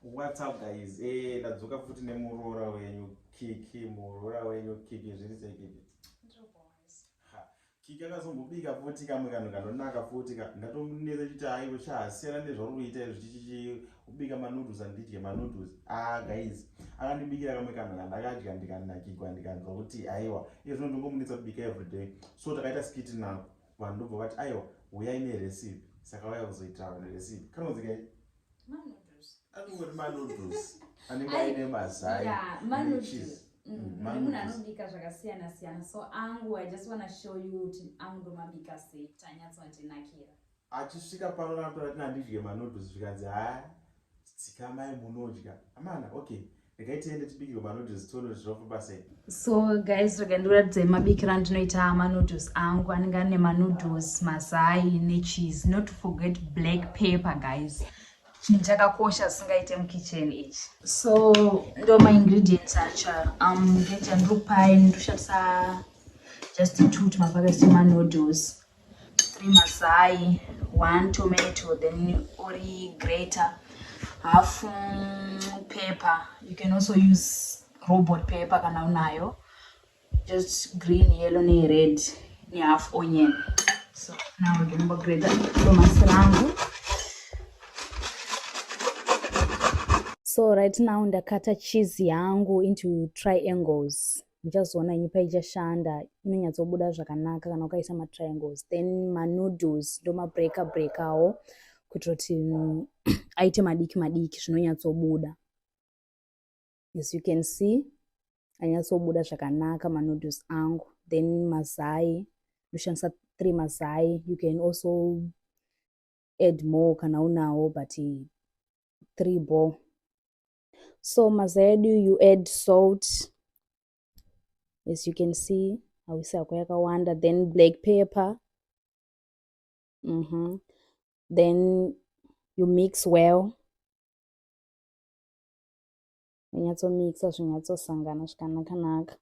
What's up guys? Eh, ndadzoka futi nemuroora wenyu Kiki, muroora wenyu Kiki zviri sei Kiki? Kiki akazombobika futi kamwe kanhu kanonaka futi ka ndatonetsa chiti aiwe chahasiyana nezvauri kuita izvo chichichi ubika manoodles andidye manoodles ah guys akandibikira kamwe kanhu kandakadya ndikanakigwa ndikanzwa kuti aiwa iye zvino ndongomunetsa kubika everyday so takaita skiti nako vanhu ndobva vati aiwa huyai nerecipe saka vaya kuzoitira vanhu recipe kanonzi kai anongori manoodles anenge aine mazai necheese Mm, mm, munhu anobika zvakasiyana siyana so angu i just wanna show you kuti angu ndomabika sei kuti anyatsondinakira achisvika pano natora tina ndidye manoodles zvikanzi haya tsikamai munodya amana okay regai tiende tibikirwe manoodles tione kuti zvinofamba sei so guys rega ndikuratidzai mabikiro andinoita manoodles angu anenge ane manoodles mazai necheese not to forget black paper guys chinhu chakakosha zvisingaite mukitchen ichi so ndo maingredients acha um, ngecha ndiri kupai ndiri kushandisa just two tumapaketi twemanoodles three mazai one tomato then ori greater half mm, pepper you can also use robot pepper kana unayo just green yellow ne red ne half onion so now we're going to grate tomasi rangu so right now ndakata cheese yangu into triangles muchazoona nyupa ichashanda inonyatsobuda zvakanaka kana ukaisa matriangles then manoodles ndomabreaka breakawo kuitira kuti mm, aite madiki madiki zvinonyatsobuda as you can see anyatsobuda zvakanaka manoodles angu then mazai ndoshandisa three mazai you can also add more kana unawo but three ball so mazai edu you add salt as you can see hausi hako yakawanda then black pepper mm -hmm. then you mix well unyatsomixa zvinyatsosangana zvakanakanaka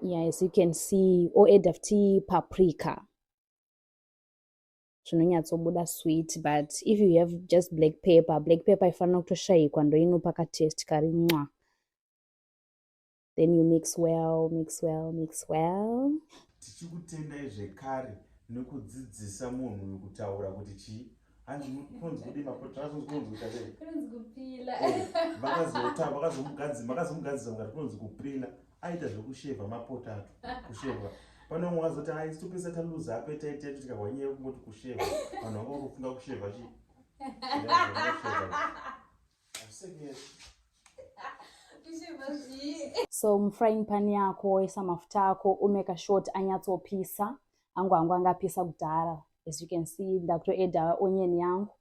yeah as you can see oedafti paprika zvinonyatsobuda sweet but if you have just black paper black paper ifanira kutoshayikwa ndoinopa katest kari nwa then you mix well mix well mix well tichikutendai zvekare nekudzidzisa munhu uyu kutaura kuti chii hanzikunzikudimapotazonzikunzikutaeakazomugadzisa eh, makazomugadzisa mukati kunonzi kupila aita zvekushevha mapotatu kushevha pane umwe wazoti a isu pese taluza apo etaitetu tikahwa nyaya yekungoti kushevha vanhu vanga vakufunga kushevha chi so mufrying pan yako woisa mafuta ako umeka short anyatsopisa angu angu angapisa kudhara as you can see ndakutoeda onion yangu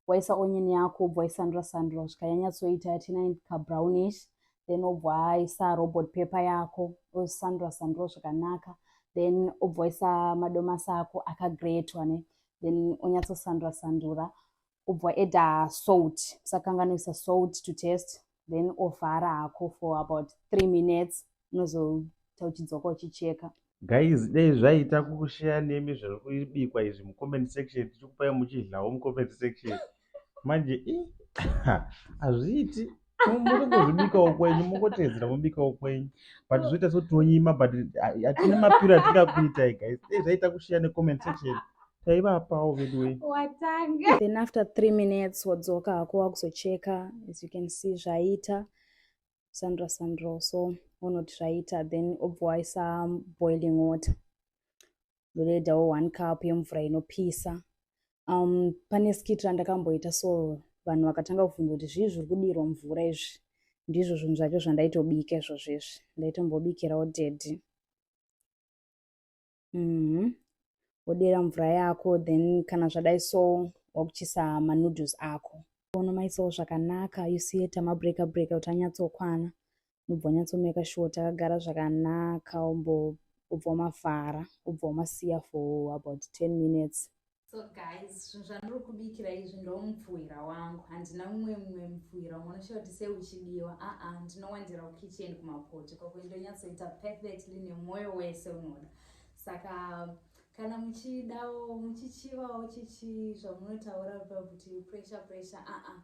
waisa onion yako obva waisandura sandura kusvika yanyatsoita yati nine kabrownish then obva waisa robot paper yako osandura sandura zvakanaka then obva waisa madomasi ako akagretwa ne then onyatsosandura sandura obva eda salt usakanganoisa salt to test then ovhara hako for about three minutes unozoita uchidzoka uchicheka guys dei zvaita kushare nemi zviri kubikwa izvi mucomment section tichikupai muchidlawo mucomment section manje i hazviiti muri kuzvibikawo kwenyu mungotedzera mubikawo kwenyu but zvoita so tonyima but hatina mapiro atingakuitai guys dei zvaita kushare necomment section taivapawo veduwee watanga then after three minutes wadzoka hako wakuzocheka as you can see zvaita sandra sandro so unoti zvaita then obva waisa boiling water ndoredawo one cup yemvura inopisa um, pane skit randakamboita so vanhu vakatanga kuvhunza kuti zvii zviri kudirwa mvura izvi ndizvo zvinhu zvacho zvandaitobika izvozvo izvi ndaitombobikirawo dedi mhm. wodera mm -hmm. mvura yako then kana zvadai so wakuchisa manoodles ako ono maisawo zvakanaka you see ta mabreaker breaker kuti anyatsokwana unobva wanyatsomeka sure takagara zvakanaka umbo ubva wamafara ubva wamasiya for about ten minutes so guys zvinhu zvandiri kubikira izvi ndomupfuhwira wangu handina mumwe mumwe mupfuhwira unoshaya kuti sei uchidiwa aa ndinowandira kukitchen kumapoto ikoko ndonyatsoita perfectly nemwoyo wese unoda saka kana muchidawo muchichivawo chichi zvamunotaura kuti pressure pressure aa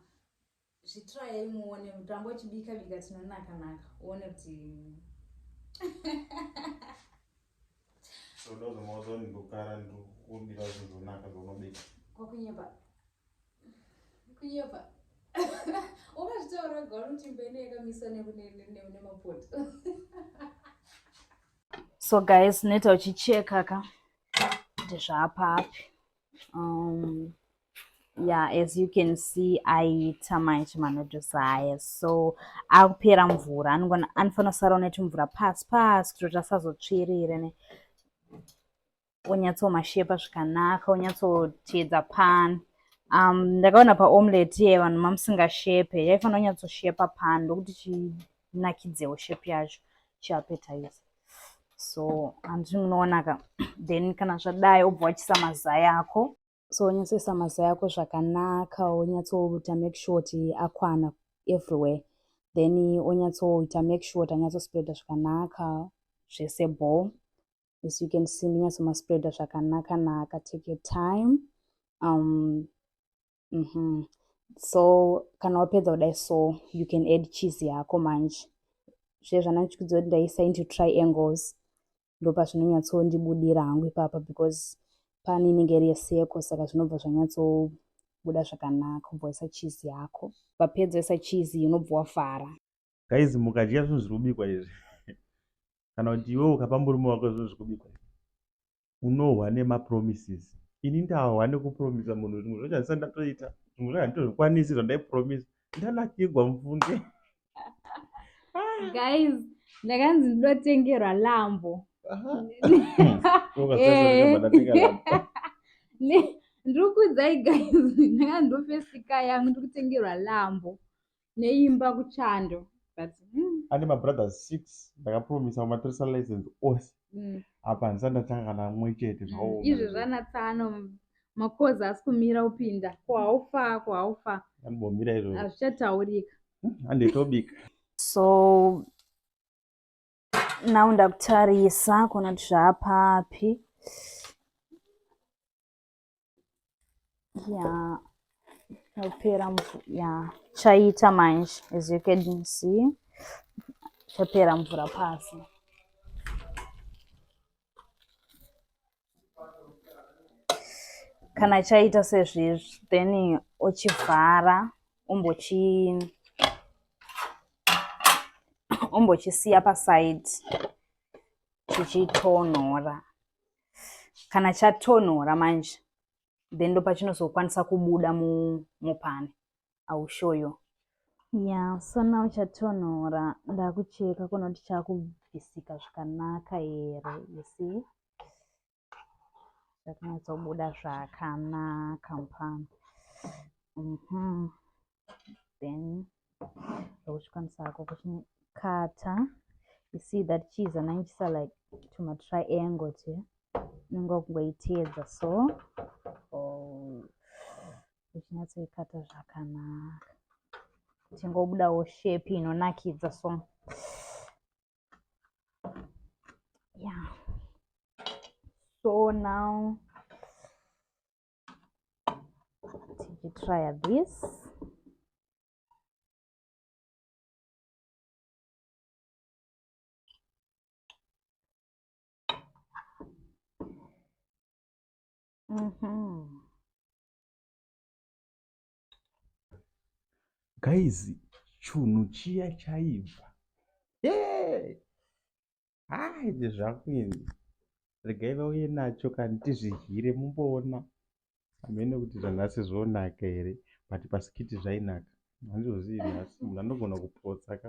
Zvitrayai muone mutambo uchibika bika tinonaka naka uone kuti Soda uzomaudza kuti ndokara ndokubira zvinhu zvonaka zvaunobika. kwakunyepa kunyepa ukazvitaura wega unoti mbene yakamiswa ne- ne- ne- ne- nemapoto so guys neta uchicheka ka kuti zvaapapi um, yeah as you can see aiita manje manodusa haya so akupera mvura anofanira kusara unetu mvura pasi pasi kutoti asazotsvirire ne wonyatsomashepa zvikanaka wonyatsoteedza pan um ndakaona paomlet ye vanhu mamusingashepe yaifanira kunyatsoshepa pan ndokuti zvinakidzewo shape yacho chiapetize so handizvi munoonaka then kana zvadai obva wachisa mazai ako so wonyatsoisa mazai ako zvakanaka wonyatsoita make sure kuti akwana everywhere then wonyatsoita make sure kuti anyatsospreada zvakanaka zvese ball as you can see ndinyatsomaspreada zvakanaka naka take your time um, mm -hmm. so kana wapedza kudai so you can add cheese yako manje zviye zvandichiudza kuti ndaisa into triangles ndopa zvinonyatsondibudira hangu ipapa because pani inenge iri yeseko saka zvinobva zvanyatsobuda zvakanaka kubva waisa cheese yako vapedza isa cheese unobva wafara Guys mukadya zvinhu zviri kubikwa izvi kana kuti iwewe ukapa murume wako zvinhu zviri kubikwa izvi unohwa nemapromises. Ini ndahwa nekupromisa munhu zvimwe zvacho handisa ndatoita zvimwe zvacho handitozvikwanisi zvandaipromisa ndanakigwa mufunge. Guys ndakanzi ndotengerwa lambo. Ndiri kuudzai guys ndakanzi ndofesika yangu ndiri kutengerwa lambo. neimba kuchando but mm, ane mabrothers six ndakapromisa kumatoresa license ose mm. apa handisati ndatanga kana mwe chete Mm, zvaoma izvi zvanatsano makozi asi kumira upinda ko haufa ko haufa andimbomira izvozvo hazvichataurika anditobika so now ndakutarisa kuona kuti zvaapapi ya chapera mvura ya chaita manje as you can see chapera mvura pasi kana chaita sezvizvi then ochivhara ombochi ombochisiya paside chichitonhora kana chatonhora manje then ndo pachinozokwanisa kubuda mupani iwill show you ya so now chatonhora ndakucheka kuona kuti chakubvisika zvakanaka here you see zvakanatsobuda zvakanaka mupani mm -hmm. then uchikwanisa hako kuchikata you see that cheese ananjisa like tumatriangle twe unenge wakungoiteedza so oh, uchinyatsoikata zvakanaka tingobudawo shape inonakidza so yeah so now tichitrya this Mm-hmm. guys chunhu chiya chaibva hey! ah, izvi zvakuinzi regai vauye nacho kani tizvihyire mumboona hamene kuti zvanhasi zvonaka here but pasikiti zvainaka handizvozii nhasi munhu anogona kupotsa ka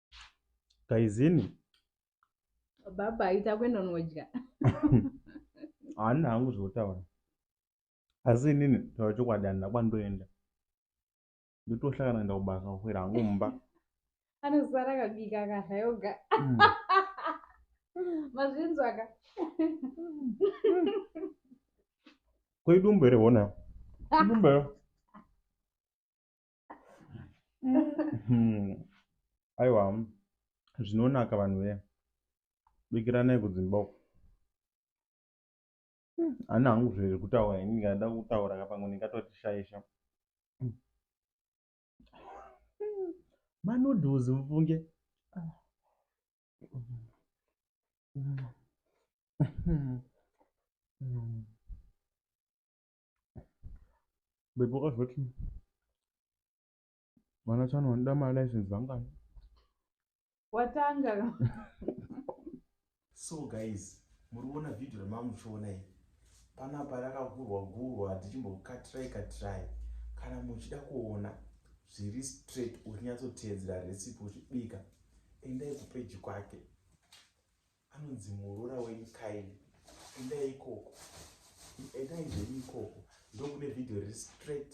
Taizini. Baba aita kwenda unodya. Haana hangu zvotaura. Asi inini taura chokwadi handina kwandoenda. Ndotohlakana kuenda kubasa kukwira hangu mumba. Anozara kabika akadya yoga. Mm. Mazvinzwaka. Kwedu mbere wona. Mbere. Hmm. aiwa zvinonaka vanhu vee bikiranai kudzimba uko hmm. ani hangu zviri kutaura ini ndikada kutaura ka pamwe ndingatotishayisha hmm. manoodles mufunge Bhebhi wakazoti vana chano vanoda malicense angani? Watanga. so guys, muri kuona video ramamuchiona iri. Panapa rakagurwa gurwa tichimbokatirai katirai. Kana muchida kuona zviri straight uchinyatsoteedzera recipe uchibika, endai kupeji kwake. anonzi muroora wenyu kaini endai ikoko endai zvenyu ikoko ndokune vhidhiyo riri straight